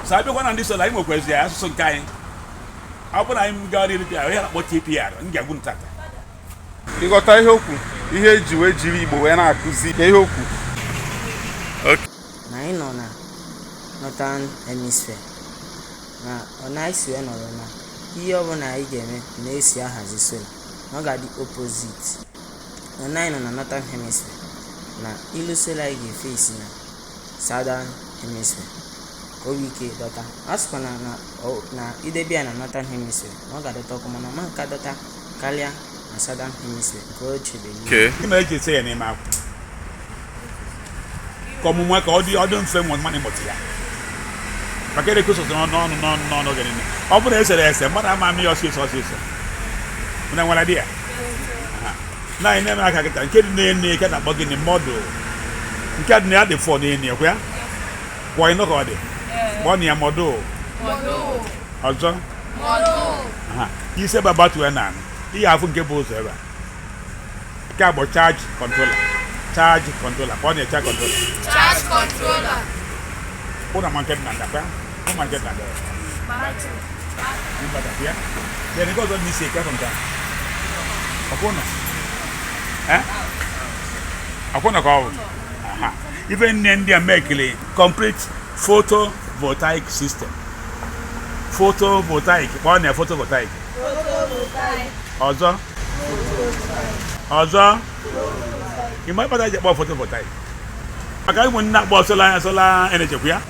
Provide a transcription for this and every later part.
so abịakwa na ndị sola anyị nwekwaziri asụsụ nke anyị ọ bụrụ na anyị gara iri pịara ya na-akpọ tpr m ga-agwa unu taata ịghọta ihe okwu ihe eji wee jiri igbo wee na-akụzi ka ihe okwu na anyị nọ na northern hemisphere na ọ na-esi wee nọrọ na ihe ọbụla anyị ga-eme na-esi ahazi sola na ọ ga-adị opposite na anyị nọ na northern hemisphere na ilu sola anyị ga-efe isi na Southern Hemisphere ka o nwee ike dọta a sịkwa na na ọ- na idebe ya na Northern Hemisphere na ọ ga-adọta ọkụ mana ọ ma nka dọta karịa na Southern Hemisphere nke o chebere ihu. Okay. Gịnị mere eji ese ya n'ime akwụkwọ ọmụmụ ya ka ọ dị ọ dị mfe nwa mmadụ ịmụta ya maka a na-ekwu sọsọ n'ọnụ n'ọnụ n'ọnụ n'ọnụ oge niile ọ bụrụ na esere ese mmadụ ama ama ya ọsịsọ ọsịsọ na nwara dị ya na anyị na-eme aka kịta nke dị n'enu ka a na-akpọ gịnị module nke dị na ya dị four n'enu ekwe ya kwọ ịnụ ka ọ dị kpọọnụ ya module ọzọ aha ise bụ abatue na anụ ihe afụ nke bụ ụzọ ebe a nke a bụ charge controller charge controller kpọọnụ ya charge controller Charge controller. unu ma nke dị na ndakwa akwụna ka ọ bụ ife niine ndị a mekiri complete photovoltaic system photovoltaic kpọọnụ photovoltaic ọzọ ọzọ ị ma ihe kpata eji kpọọ photovoltaic maka ụmụnne akpọ sola sola energy kwa ya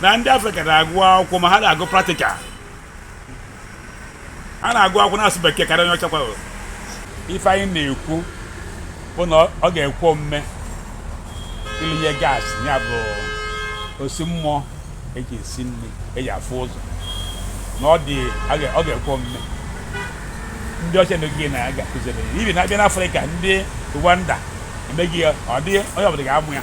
na ndị afrịka na-agụ akwụkwọ ma ha na-agụ practical ha na-agụ akwụkwọ na-asụ bekee karịa onye ọcha kwara ife anyị na-ekwu bụ na ọ ga-ekwe omume ilinye gas ya bụ osi mmụọ eji esi nri eji afụ ụzọ na ọ dị ọ ga-ekwe omume ndị ọcha emego ya na ga-akụziri even abịa n'afrịka ndị rwanda emego ya ọ dị onye ọbụla ga-amụ ya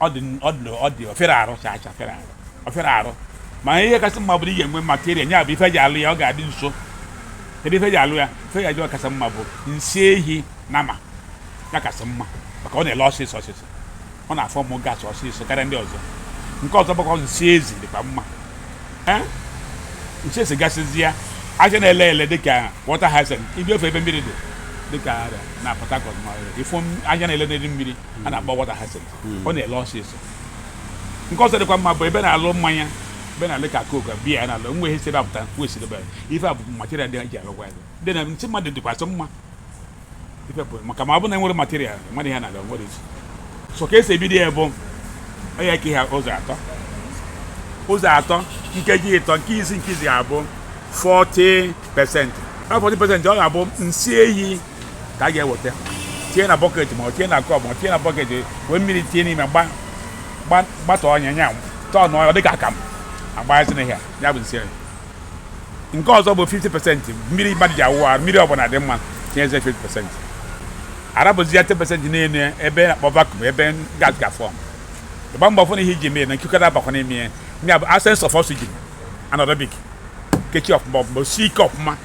ọ dị ọ dị ọ dị ofere arụ cha cha fere arụ ofere arụ ma ihe kasị mma bụ na ị ga-enwe material ya bụ ife eji alụ ya ọ ga-adị nso kedu ife eji alụ ya ife eji alụ ya kasị mma bụ nsị ehi nama ya kasị mma maka ọ na-ele ọsịsọ ọsịsọ ọ na-afọmụ gas ọsịsọ karịa ndị ọzọ nke ọzọ bụkwa nsị ezi dịkwa mma Eh? nsị ezi gasịzịa aja na-ele ele dịka water hyacinth ibi ofe ebe mmiri dị dịka na Port Harcourt ma ifo aja na-ele n'elu mmiri a na-akpọ water hyacinth ọ na-ele ọsịsọ nke ọzọ dịkwa mma bụ ebe na-alụ mmanya ebe na-alụ ka Coke biya ya na-alụ nwe ihe si ebe apụta wee si ebe ife a bụ material ndị e ji alụkwa ya dị na nsị mmadụ dịkwazị mma ife bụ maka ma ọ bụ na enwere material mmadụ ihe na-alụ nwere isi so ka esi ebido ya bụ onye ka ihe ụzọ atọ ụzọ atọ nkeji ịtọ nke isi nke izizi ga-abụ 40 pesentị 40 pesentị ọ ga-abụ nsị ehi ka a ga-eweta tinye na bọket ma ọ tinye na kọp ma ọ tinye na bọket wee mmiri tinye n'ime gbata ọnya nya tọọ na ọ dị ka akamụ agbaghasị na ihe ya bụ nsị nke ọzọ bụ 50 pesenti mmiri mmadụ ji awụ arụ mmiri ọbụla dị mma tinyezi 50 pesenti a rapụzie ya 10 pesenti n'elu ebe na-akpọ vacuum ebe gas ga-form ị gbaa mbọ fụ na ihe i ji mee na ikuku ada abakwa n'ime ya ya bụ absence of oxygen anaerobic kechie ọfụma ọfụma o sie ike ọfụma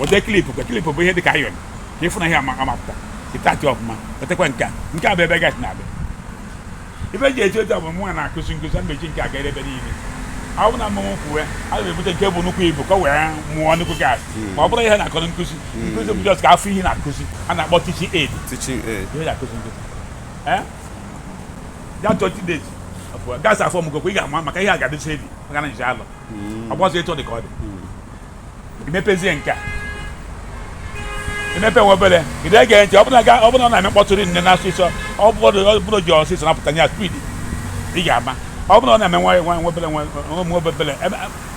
weta clip ka clip bụ ihe dị ka iron ka ị fụ na ihe ama apụta ị tight ọfụma wetakwa nke a nke a bụ ebe gas na-abịa ife ji eji otu bụ mụnwa na-akụzi nkụzi mmechi nke aga ebe niile ahụ na mmanwụ kwuwe a ga-ebute nke bụ nnukwu ibu ka o wee mụọ nnukwu gas ma ọ bụrụ ihe na-akọrọ nkụzi hmm. nkụzi bụ just ka a fụ ihe na-akụzi a na-akpọ teaching aid ihe na-akụzi nkụzi ya 20 days gas afọmgokwa ị ga-ama maka ihe a ga-adịcha heavy maka ọ na-anyị alọ hmm. ọ bụrọzị etu ọ dị ka ọ dị hmm. i mepezie nke a i mepe nwa obere ị na-ege ntị ọ bụrụ na ọ na-eme mkpọtụ rinne na asụsụ ọ bụrụ ji ọsịsọ na-apụta ya speed ị ga-ama ọ bụrụ na ọ na-eme nwa nwa nwa obere nwa obere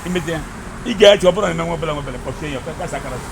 i mechie ị ga-eche ọ bụrụ na ọ na-eme nwa obere nwa obere kpọchie ya kasị akara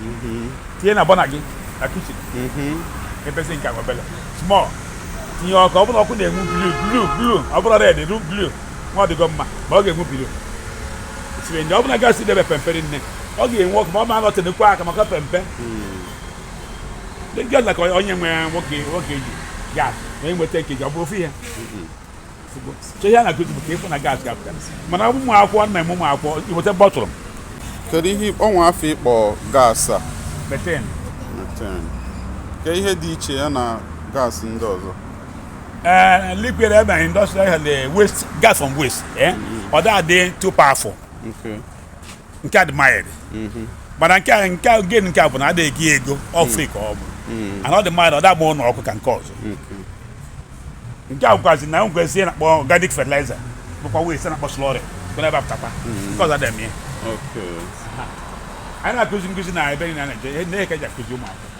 mm-hmm. tinye na burner gị na kitchen mm-hmm. mepezie nke ahụ obele small tinye ọkụ ọ bụrụ ọkụ na-enwu blue blue blue ọ bụrọ red blue nwa ọ dịgo mma ma ọ ga-enwu blue siri ndị ọ bụrụ na gas ị debe pempe rinne ọ ga-enwu ọkụ ma ọ ma anọtenekwa aka maka pempe just like onye nwe nwoke nwoke ji gas na enweta nkeji ọ bụrọ ofu ihe mm-hmm. ihe a na-akụzi bụ ka ị fụ na gas ga-apụta mana ọ bụ ụmụ akwụkwọ nna m ụmụ akwụkwọ i weta bọtụrụ m kedu ihe o nwe afa ị kpọ gas a methane methane ke ihe dị iche ya na gas ndị ọzọ ee liquid ebe na industrial waste gas from waste ọ na-adị too powerful nke a dị mild mm-hmm. mana nke a nke gain nke a bụ na adịghị gị ego ọ free mm. ka ọ bụ mm. and ọ dị mild ọ da-agba ụlọ ọkụ ka nke ọzọ mm-hmm. nke a bụkwazi na waste a na-akpọ organic fertilizer bụkwa waste a na-akpọ slurry kwere ebe apụtakwa mm-hmm. nke ọzọ dị n'ime ya anyị na-akụzi nkụzi na ebe niile na-eje ihe nke e ji akụzi ụmụaka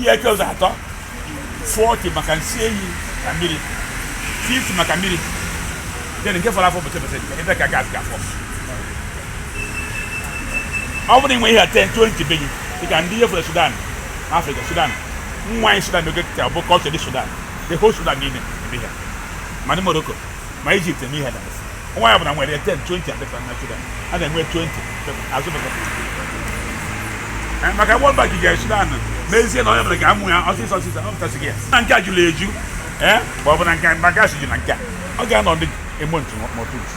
ihe eke ụzọ atọ 40 maka nsị ehi na mmiri 50 maka mmiri then nke fọrọ afọ bụ 10% ebe ka gas ga-afọ ọ bụrụ i nwee ihe 10 20 be gị dịka ndị ihe fọrọ Sudan Africa Sudan nwa anyị Sudan n'oge kịta bụ culture ndị Sudan the whole Sudan niile ebe ha ma ndị Morocco ma Egypt eme ihe dabasị nwaanyị ọ bụla nwere 10 20 adị fa na Sudan a na-enwe 20 azụ maka World Bank ga Sudan mezie na onye bụla ga-amụ ya ọsịsọ ọsịsọ ọ pụtasịghị na nke a jụrụ eju ee ma ọ bụ na nke biogas ju na nke a ọ ga-anọ ndị a month two months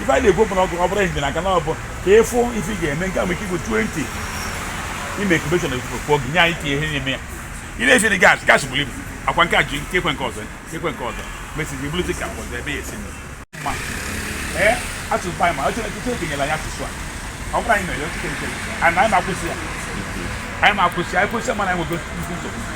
ife anyị na-ekwu bụ na ọ bụrụ ehihie na aka na ọ bụ ka ịfụ ife ị ga-eme nke a nwere ike igwe 20 ime incubation ekwu gị nye anyị tinye ihe n'ime ya ị na-efe gas gas buru ibu akwa nke a ji nke ekwe nke ọzọ ekwe nke ọzọ mesịzi bụrụzi ka ọzọ ebe ya esi ma ee asụsụ anyị ma ọ Chineke nyela anyị asụsụ a ọ bụrụ anyị mere oche nke anyị anyị na-akwụsị ya anyị na-akwụsị anyị kwụsị mana anyị nwego nnukwu nsogbu